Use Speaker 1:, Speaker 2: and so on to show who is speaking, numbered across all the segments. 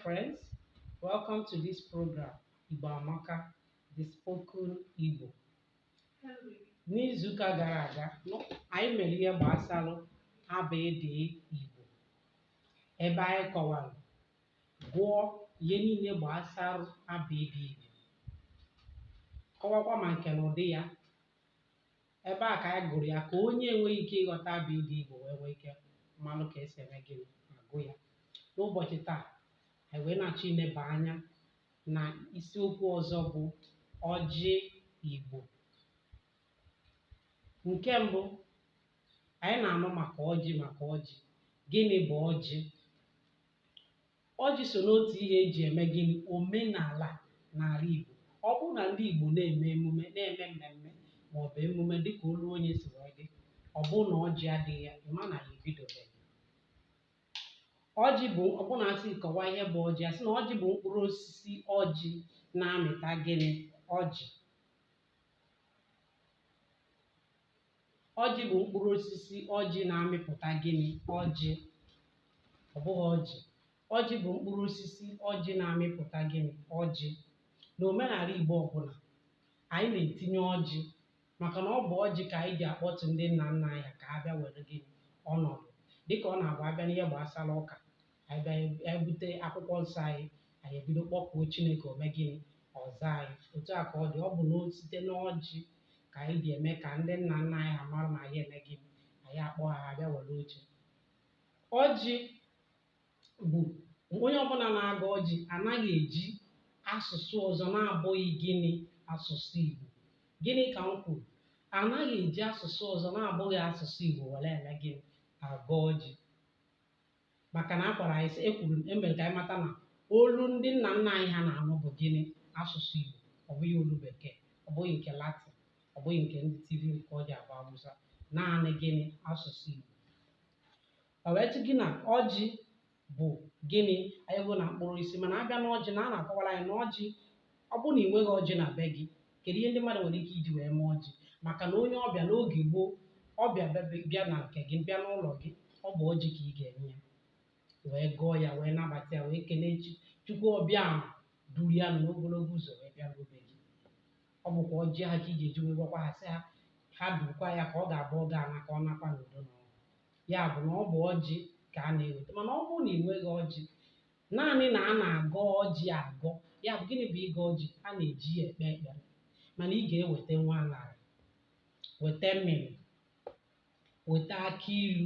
Speaker 1: friends. Welcome to this program, Igbo Amaka, the spoken Igbo. N'izuụka gara aga, anyị mere ihe gbasara abịdịị Igbo, ebe anyị kọwara gụọ ihe niile gbasara abịdịị Igbo, kọwakwa ma nke na ụdị ya, ebe a ka anyị gụrụ ya ka onye enweghị ike ịghọta abịdịị igbo wee nwee ike malụ ka e si eme gịnị agụ ya n'ụbọchị taa anyị wee na-achọ ileba anya na isiokwu ọzọ bụ ọjị igbo nke mbụ anyị na-anụ maka ọjị maka ọjị gịnị bụ ọjị Ọjị so n'otu ihe e ji eme gịnị omenala n'ala Igbo. Ọ bụrụ na ndị Igbo na-eme emume na-eme mmemme maọbụ emume dịka olu onye si wee dị, ọ bụrụ na ọjị adịghị ya, ị ma na ha ebidobeghị. Ọjị bụ ọ bụrụ na a sị kọwa ihe bụ ọjị, a sị na ọjị bụ mkpụrụ osisi ọjị na-amịta gịnị ọjị. ọjị bụ mkpụrụ osisi ọjị na-amịpụta gịnị ọjị ọ bụghị ọjị ọjị bụ mkpụrụ osisi ọjị na-amịpụta gịnị ọjị na omenala igbo ọbụla anyị na-etinye ọjị maka na ọ bụ ọjị ka anyị ji akpọtụ ndị nna nna anyị ka ha bịa were gịnị ọnọdụ dịka ọ na-abụ a bịa n'ihe gbasara ụka anyị bịa anyị bute akwụkwọ nsọ anyị anyị ebido kpọkuo chineke o mee gịnị ọ zaa anyị otu a ka ọ dị ọ bụ na site n'ọjị ka anyị ji eme ka ndị nna nna anyị ha mara na anyị eme gịnị anyị akpọ ha ha bịa were oche ọjị bụ onye ọbụla na-agọ ọjị anaghị eji asụsụ ọzọ na-abụghị gịnị asụsụ igbo gịnị ka m kwuru anaghị eji asụsụ ọzọ na-abụghị asụsụ igbo were eme gịnị agọ ọjị maka na a gwara anyị sị e kwuru m e mere ka anyị mata na olu ndị nna nna anyị ha na-anụ bụ gịnị asụsụ Igbo ọ bụghị olu bekee ọ bụghị nke Latin ọ bụghị nke ndị Tiv nke ọ ji abụ Awụsa naanị gịnị asụsụ Igbo ọ wee tụ gị na ọjị bụ gịnị anyị bụ na mkpụrụ osisi mana a bịa n'ọjị na a na-akọwara anyị na ọjị ọ bụrụ na ị nweghị ọjị na be gị Kedu ihe ndị mmadụ nwere ike iji wee mee ọjị? Maka na onye ọbịa n'oge gboo, ọbịa bịa na nke gị, bịa n'ụlọ gị, ọ bụ ọjị ka ị ga-enye ya wee gọọ ya wee nabata ya wee kelee chi chukwu ọbịa ahụ duru ya n'ogologo ụzọ wee bịa na be gị ọ bụkwa ọjị ahụ ka ị ga-eji wee gwakwa ha sị ha ha durukwa ya ka ọ ga-abụ ọ ga-ana ka ọ nakwa n'udo na ọṅụ ya bụ na ọ bụ ọjị ka a na-eweta mana ọ bụrụ na ị nweghị ọjị naanị na a na-agọ ọjị agọ ya bụ gịnị bụ ịgọ ọjị a na-eji ya ekpe ekpere mana ị ga-eweta nwa aṅara weta mmịmị weta akị ilu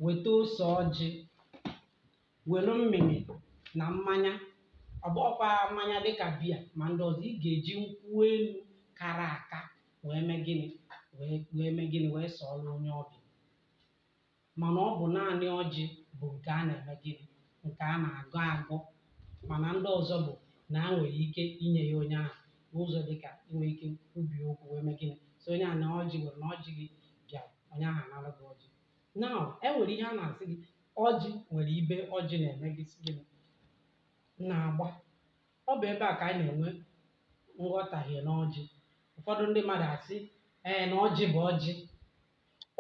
Speaker 1: weta ose ọjị were mmịmị na mmanya ọ bụghịkwa mmanya dịka biya ma ndị ọzọ ị ga-eji nkwụ elu kara aka wee mee gịnị wee mee gịnị wee sọọrọ onye ọbịa mana ọ bụ naanị ọjị bụ nke a na-eme gịnị nke a na-agọ agọ mana ndị ọzọ bụ na e nwere ike inye ya onye ahụ n'ụzọ dị ka inwe ike ubi okwu wee mee gịnị so onye a na ọjị were na ọjị gị bịa onye ahụ anara gị ọjị na e nwere ihe a na-asị gị ọjị nwere ibe ọjị na-eme gị si gịnị na-agba ọ bụ ebe a ka anyị na-enwe nghọtahie n'ọjị ụfọdụ ndị mmadụ asị ee na ọjị bụ ọjị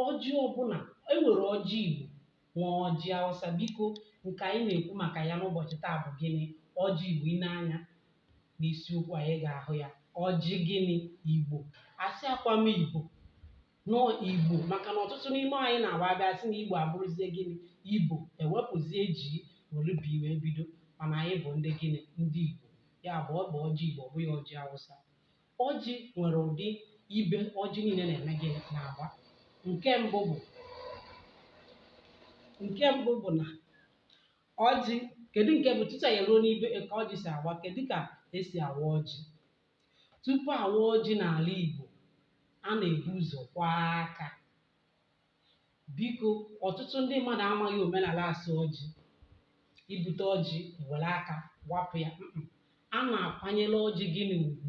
Speaker 1: ọjị ọbụla e nwere ọjị Igbo nwee ọjị Awụsa biko nke anyị na-ekwu maka ya n'ụbọchị taa bụ gịnị ọjị Igbo i nee anya n'isiokwu anyị ị ga-ahụ ya ọjị gịnị Igbo asịghịkwa m Ibo na ọ Igbo maka na ọtụtụ n'ime anyị na-agba abịa asị na Igbo abụrụzie gịnị Ibo ewepụzie G were B wee bido mana anyị bụ ndị gịnị ndị Igbo ya bụ ọ bụ ọjị Igbo ọ bụghị ọjị Awụsa Ọjị nwere ụdị ibe ọjị niile na-eme gịnị si agba. Nke mbụ bụ nke mbụ bụ na ọjị kedu nke bụ tutu anyị ruo n'ibe ka ọjị si agba kedu ka esi awa ọjị tupu awa ọjị n'ala Igbo a na-ebu ụzọ kwọọ aka biko ọtụtụ ndị mmadụ amaghị omenala so ọjị i bute ọjị were aka wapụ ya Mm-mm. a na-akwanyere ọjị gịnị ugwu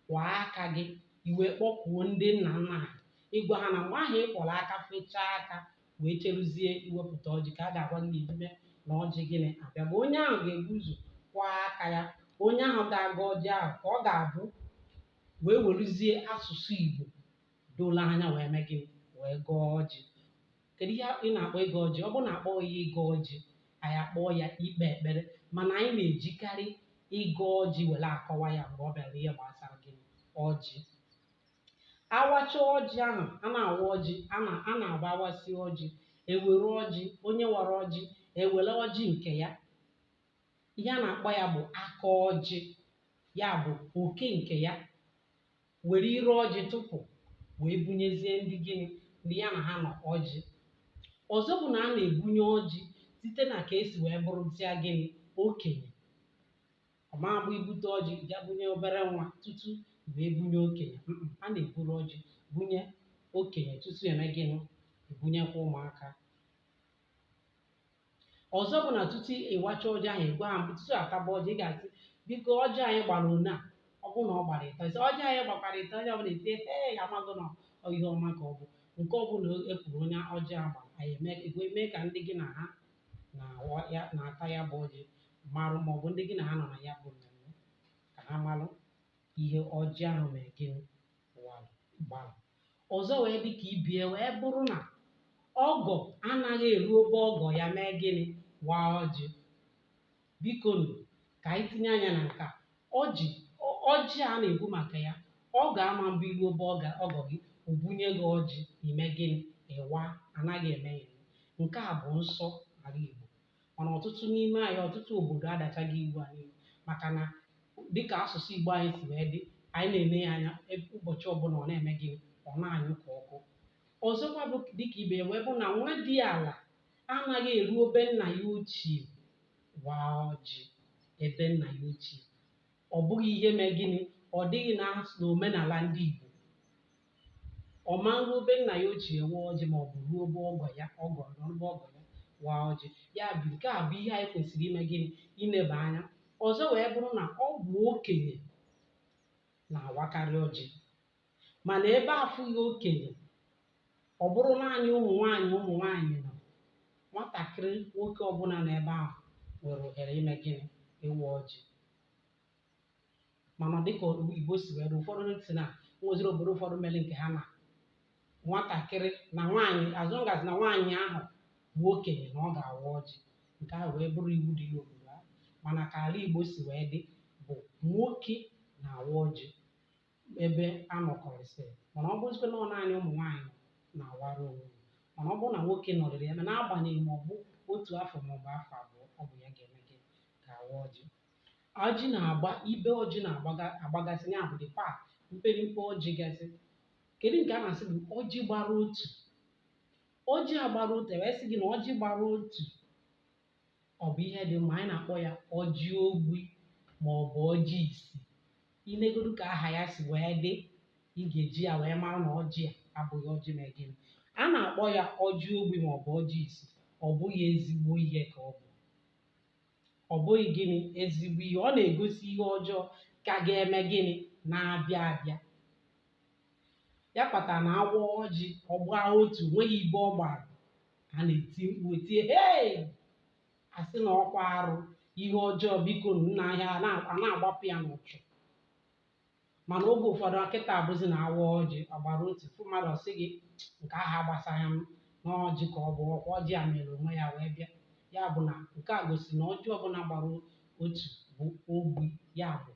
Speaker 1: kwọọ aka gị i wee kpọkuo ndị nna nna anyị ị gwa ha na mgbe ahụ ị kwọrọ aka fechaa aka wee cheruzie iwepụta ọjị ka a ga-agwa gị n'ime na ọjị gịnị abịago onye ahụ ga-ebu ụzọ kwọọ aka ya onye ahụ ga-agọ ọjị ahụ ka ọ ga-abụ wee weruzie asụsụ Igbo doro anya wee mee gịnị wee gọọ ọjị kedu ihe ị na-akpọ ịgọ ọjị ọ bụrụ na a kpọghị ya ịgọ ọjị anyị akpọọ ya ikpe ekpere mana anyị na-ejikarị ịgọ ọjị were akọwa ya mgbe ọ bịara ihe gbasara gịnị ọjị awacha ọjị ahụ a na-awa ọjị a na- a na-awa awasịa ọjị ewere ọjị onye wara ọjị ewere ọjị nke ya ihe a na-akpọ ya bụ aka ọjị ya bụ oke nke ya were ire ọjị tụpụ wee bunyezie ndị gịnị ndị ya na ha nọ ọjị ọzọ bụ na a na-ebunye ọjị site na ka esi wee bụrụzịa gịnị okenye ọ ma-abụ i bute ọjị ga bunye obere nwa tutu wee bunye okenye Mm-mm, a na-eburu ọjị bunye okenye tutu eme gịnị ebunyekwa ụmụaka ọzọ bụ na tutu ịwacha ọjị ahụ ịgwa ha mbụ tutu a taba ọjị ị ga-asị biko ọjị anyị gbara one a ọ bụrụ na ọ gbara ịtọ ị sị ọjị anyị gbakwara ịtọ onye ọbụla etie ee amago na ọ ihe ọma ka ọ bụ nke ọbụla e kwuru one ọjị a gbara anyị eme e wee mee ka ndị gị na ha na-awa ya na-ata ya bụ ọjị marụ ma ọ bụ ndị gị na ha nọ na ya bụ mmemme ka ha marụ ihe ọjị ahụ mere gịnị walụ gbalụ ọzọ wee dị ka ibe ya wee bụrụ na ọgọ anaghị eruo be ọgọ ya mee gịnị waa ọjị biko nụ ka anyị tinye anya na nke a ọjị ọ- ọjị a na-ekwu maka ya ọgọ ama mbụ i ruo be ọgọ ọgọ gị o bunye gị ọjị ime gịnị ịwa anaghị eme ya nke a bụ nsọ ala Igbo mana ọtụtụ n'ime anyị ọtụtụ obodo adachaghị iwu a n'iwu maka na dịka asụsụ Igbo anyị si wee dị anyị na-ele ya anya ebe ụbọchị ọbụla ọ na-eme gịnị ọ na-anyụ ka ọkụ ọzọkwa bụ dịka ibe ya wee bụ na nwadiala anaghị eruo be nna ya ochie waa ọjị ebe nna ya ochie ọ bụghị ihe mee gịnị ọ dịghị na n'omenala ndị Igbo ọ ma ruo be nna ya ochie waa ọjị ma ọ bụ ruo be ọgọ ya ọgọ eruo be ọgọ ya waa ọjị ya bụ nke a bụ ihe anyị kwesịrị ime gịnị ileba anya ọzọ wee bụrụ na ọ bụ okenye na-awakarị ọjị mana ebe afụghị okenye ọ bụrụ naanị ụmụ nwaanyị ụmụ nwaanyị nọ nwatakịrị nwoke ọbụla n'ebe ahụ nwere ohere ime gịnị ịwa ọjị mana dịka igbo si wee dị ụfọdụ sị na e nweziri obodo ụfọdụ mere nke ha na nwatakịrị na nwaanyị as long as na nwaanyị ahụ bụ okenye na ọ ga-awa ọjị nke ahụ wee bụrụ iwu dị n'obodo ahụ mana ka ala igbo si wee dị bụ nwoke na-awa ọjị ebe a nọkọrịsịrị mana ọ bụzikwa na ọ naanị ụmụ nwaanyị na-awara onwe ya mana ọ bụrụ na nwoke nọrịrị ya ma n'agbanyeghị ma ọ bụ otu afọ ma ọ bụ afọ abụọ ọ bụ ya ga-eme gịnị ga-awa ọjị ọjị na-agba ibe ọjị na-agbagasị ya bụ the part mpere mpe ọjị gasị kedu nke a na-asị bụ ọjị gbara otu ọjị a gbara otu e wee sị gị na ọjị gbara otu ọ bụ ihe dị mma anyị na-akpọ ya ọjị ogbi ma ọ bụ ọjị isi i negodu ka aha ya si wee dị ị ga-eji ya wee marụ na ọjị a abụghị ọjị mee gịnị a na-akpọ ya ọjị ogbi ma ọ bụ ọjị isi ọ bụghị ezigbo ihe ka ọ bụ ọ bụghị gịnị ezigbo ihe ọ na-egosi ihe ọjọọ ka ga-eme gịnị na-abịa abịa ya kpatara na a waa ọjị ọ gbaa otu nweghị ibe ọ gbara a na-eti mkpu etie hei a sị na ọkwa arụ ihe ọjọọ biko nna ahịa a na-agbapụ ya n'ụchụ mana oge ụfọdụ kịta abụzi na a waa ọjị ọ gbara otu ị fụ mmadụ ọ sị gị nke ahụ agbasaghị m na ọjị ka ọ bụ ọkwa ọjị a mere onwe ya wee bịa ya bụ na nke a gosi na ọjị ọbụla gbara otu bụ ogbi ya bụ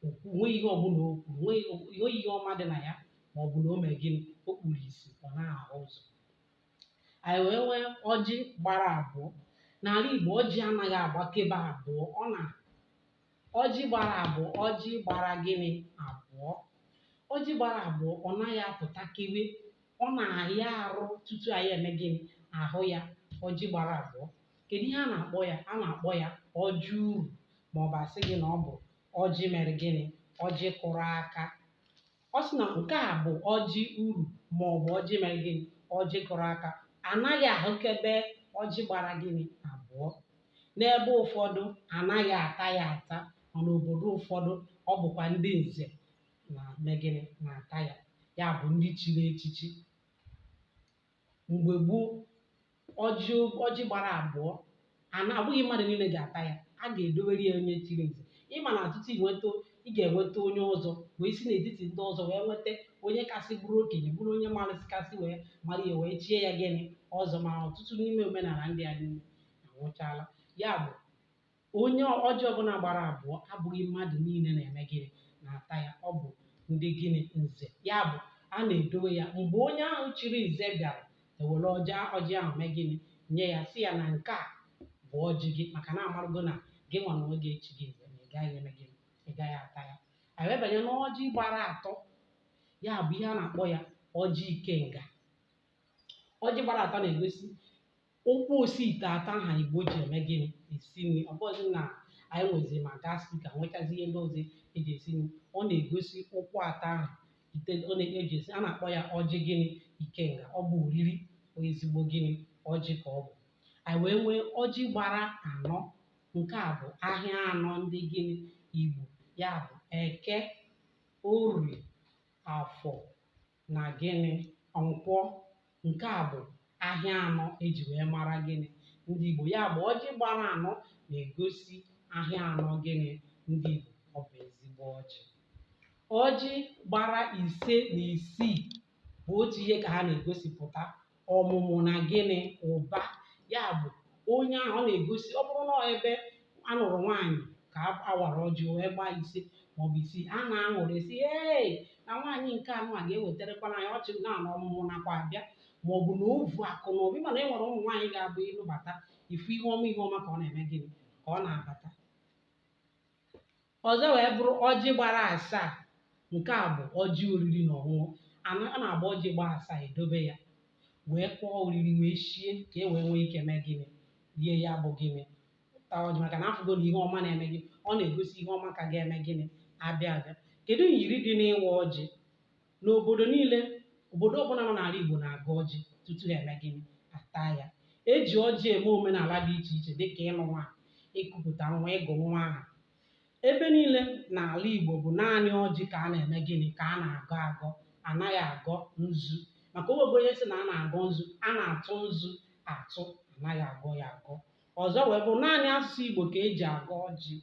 Speaker 1: okwu nwee ihe ọbụla okwu nwee ihe ihe ọma dị na ya ma ọ bụ na o mee gịnị o kpuru isi ọ naghị ahụ ụzọ anyị wee nwee ọjị gbara abụọ n'ala Igbo ọjị anaghị agbakebe abụọ ọ na ọjị gbara abụọ ọjị gbara gịnị abụọ ọjị gbara abụọ ọ naghị apụtakewe ọ na-ahịa arụ tutu anyị eme gịnị ahụ ya ọjị gbara abụọ kedu ihe a na-akpọ ya a na-akpọ ya ọjị uru ma ọ bụ a sị gị na ọ bụ ọjị mere gịnị ọjị kụrụ aka ọ sị na nke a bụ ọjị uru ma ọ bụ ọjị mere gịnị ọjị kụrụ aka anaghị ahụkebe ọjị gbara gịnị abụọ n'ebe ụfọdụ anaghị ata ya ata mana obodo ụfọdụ ọ bụkwa ndị nze na-eme gịnị na-ata ya ya bụ ndị chiri echichi mgbe gboo ọjị ọjị gbara abụọ ana abụghị mmadụ niile ga-ata ya a ga-edowere ya onye chiri nze ị ma na tutu ị nweta ị ga-enweta onye ọzọ wee si n'etiti ndị ọzọ wee nweta onye kasị bụrụ okenye bụrụ onye marasị kasị wee mara ya wee chie ya gịnị ọzọ ma ọtụtụ n'ime omenala ndị a niile anwụchaala ya bụ Onye ọjị ọbụla gbara abụọ abụghị mmadụ niile na-eme gịnị na-ata ya ọ bụ ndị gịnị nze ya bụ a na-edowe ya mgbe onye ahụ chiri nze bịara e were ọjị ọjị ahụ mee gịnị nye ya sị ya na nke a bụ ọjị gị maka na a marụgo na gị nwa na onwe gị echighị nze na ị gaghị eme gịnị ị gaghị ata ya anyị wee banye n'ọjị gbara atọ ya bụ ihe a na-akpọ ya ọjị ikenga ọjị gbara atọ na-egosi ụkwụ osi ite atọ ahụ igbo ji eme gịnị esi nri ọ bụghịzi na anyị nwezi ma gas cooker nwechazi ihe ndị ọzọ e ji esi nri ọ na-egosi ụkwụ atọ ahụ ite ọ na-eji esi a na-akpọ ya ọjị gịnị ikenga ọ bụ oriri bụ ezigbo gịnị ọjị ka ọ bụ anyị wee nwee ọjị gbara anọ nke a bụ ahịa anọ ndị gịnị igbo ya bụ eke orie afọ na gịnị nkwọ nke a bụ ahịa anọ e ji wee mara gịnị ndị Igbo ya bụ ọjị gbara anọ na-egosi ahịa anọ gịnị ndị Igbo ọ bụ ezigbo ọjị ọjị gbara ise na isii bụ otu ihe ka ha na-egosipụta ọmụmụ na gịnị ụba ya bụ onye ahụ ọ na-egosi ọ bụrụ na ọ ebe a nụrụ nwaanyị ka a- a wara ọjị wee gbaa ise maọbụ isii a na-aṅụrị sị ee na nwaanyị nke a nụ a ga-ewetarakwana anyị ọchị na na ọmụmụ nakwa abịa maọbụ na o vu akụ na obi mana e nwere ụmụ nwaanyị ga-abụ ị nụbata ị fụ ihe ọma ihe ọma ka ọ na-eme gịnị ka ọ na-abata ọzọ wee bụrụ ọjị gbara asaa nke a bụ ọjị oriri na ọṅụṅụ a na a na-abụ ọjị gbaa asaa edobe ya wee kpọọ oriri wee shie ka e wee nwee ike mee gịnị rie ya bụ gịnị taa ọjị maka na afụgo na ihe ọma na-eme gị ọ na-egosi ihe ọma ka ga-eme gịnị abịa abịa kedu myiri dị n'ịwa ọjị N'obodo niile, obodo ọbụla nọ n'ala Igbo na-agọ ọjị tutu ha eme gịnị? Ha taa ya. E ji ọjị eme omenala dị iche iche dịka ịlụ nwaanyị, ịkụpụta nwa, ịgụ nwa aha. Ebe niile n'ala Igbo bụ naanị ọjị ka a na-eme gịnị? Ka a na-agọ agọ. A naghị agọ nzu. Maka o nwego onye sị na a na-agọ nzu, a na-atụ nzu atụ, a naghị agọ ya agọ. Ọzọ wee bụrụ naanị asụsụ Igbo ka e ji agọ ọjị.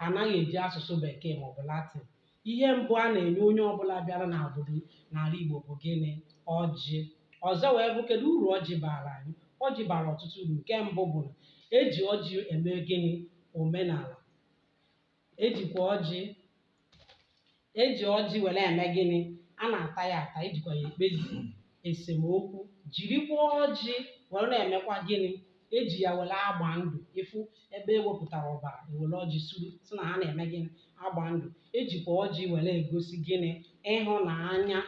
Speaker 1: anaghị eji asụsụ bekee maọbụ latin ihe mbụ a na-enye onye ọbụla bịara na obodo n'ala igbo bụ gịnị ọjị ọzọ wee bụ kedu uru ọjị bara anyị ọjị bara ọtụtụ uru nke mbụ bụ na eji ọjị eme gịnị omenala ejikwa ọjị eji ọjị were eme gịnị a na-ata ya ata ejikwa ya ekpezi esemokwu jirikwa ọjị were na-emekwa gịnị eji ya were agba ndụ ị fụ ebe ewepụtara ọbara ewere ọjị suru sị na ha na-eme gịnị agba ndụ ejikwa ọjị were egosi gịnị ịhụnanya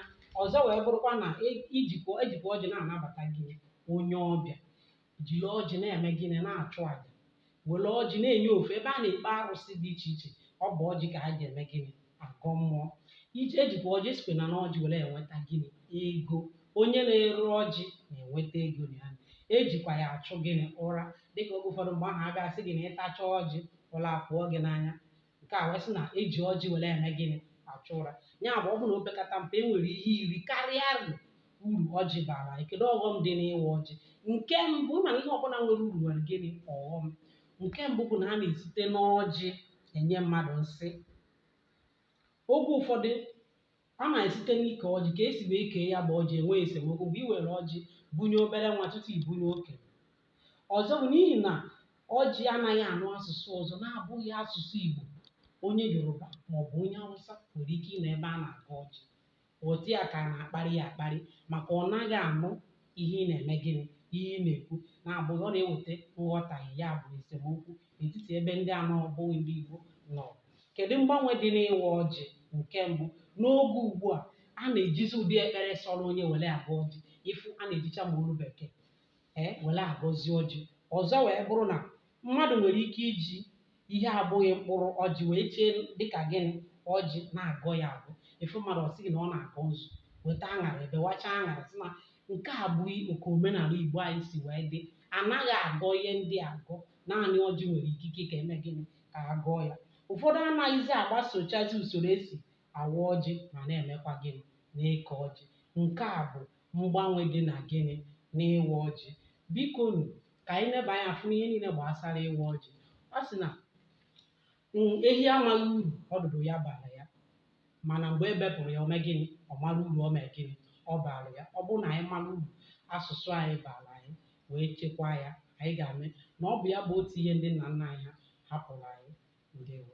Speaker 1: ọzọ wee bụrụkwa na e- ijikwa ejikwa ọjị na-anabata gịnị onye ọbịa jiri ọjị na-eme gịnị na-achụ aja were ọjị na-enye ofe ebe a na-ekpe arụsị dị iche iche ọ bụ ọjị ka ha ji eme gịnị agọ mmụọ iji ejikwa ọjị esikwa na n'ọjị were enweta gịnị ego onye na-ere ọjị na-enweta ego na ya ejikwa ya achụ gịnị ụra dịka oge ụfọdụ mgbe ahụ a ga-asị gị na ị tachaa ọjị ụra apụọ gị n'anya nke a wee sị na eji ọjị were eme gịnị achụ ụra ya bụ ọ bụ na opekata mpe e nwere ihe iri karịa uru ọjị bara anyị kedu ọghọm dị n'ịwa ọjị nke mbụ ị ma na ihe ọbụla nwere uru nwere gịnị ọghọm nke mbụ bụ na a na-esite n'ọjị enye mmadụ nsị oge ụfọdụ A na-esite n'ike ọjị ka esi wee kee ya bụ ọjị enwe esemokwu mgbe i were ọjị bunye obere nwa tutu i bunye okenye. Ọzọ bụ n'ihi na ọjị anaghị anụ asụsụ ọzọ na-abụghị asụsụ Igbo. Onye Yoruba maọbụ onye Awụsa nwere ike ịnọ ebe a na-agọ ọjị ghọta ya ka a na-akparị ya akparị maka ọ naghị anụ ihe ị na-eme gịnị ihe ị na-ekwu ya bụ ọ na-eweta nghọtahie ya bụ esemokwu n'etiti ebe ndị na-abụghị ndị Igbo nọ kedu mgbanwe dị n'ịwa ọjị nke mbụ n'oge ugbu a a na-ejizi ụdị ekpere sọrọ onye were agọ ọjị ị fụ a na-ejicha ma olu bekee ee were agọzi ọjị ọzọ wee bụrụ na mmadụ nwere ike iji ihe abụghị mkpụrụ ọjị wee chee dịka gịnị ọjị na-agọ ya agọ ị fụ mmadụ ọ sị gị na ọ na-agọ nzu weta aṅara bewachaa aṅara sị na nke a abụghị otu omenala Igbo anyị si wee dị anaghị agọ ihe ndị a agọ naanị ọjị nwere ikike ka e mee gịnị ka a gọọ ya ụfọdụ anaghịzi agbasochazi usoro e si awa ọjị ma na-emekwa gịnị na-eke ọjị nke a bụ mgbanwe dị na gịnị n'ịwa ọjị biko nu ka anyị neba anya ọfụma n'ihe niile gbasara ịwa ọjị Igbo sị na Mm, ehi amaghị uru ọdụdụ ya bara ya mana mgbe e bepụrụ ya o mee gịnị ọ mara uru ọ mee gịnị ọ bara ya ọ bụrụ na anyị mara uru asụsụ anyị bara anyị wee chekwaa ya anyị ga-ama na ọ bụ ya bụ otu ihe ndị nna nna anyị ha hapụrụ anyị ndewo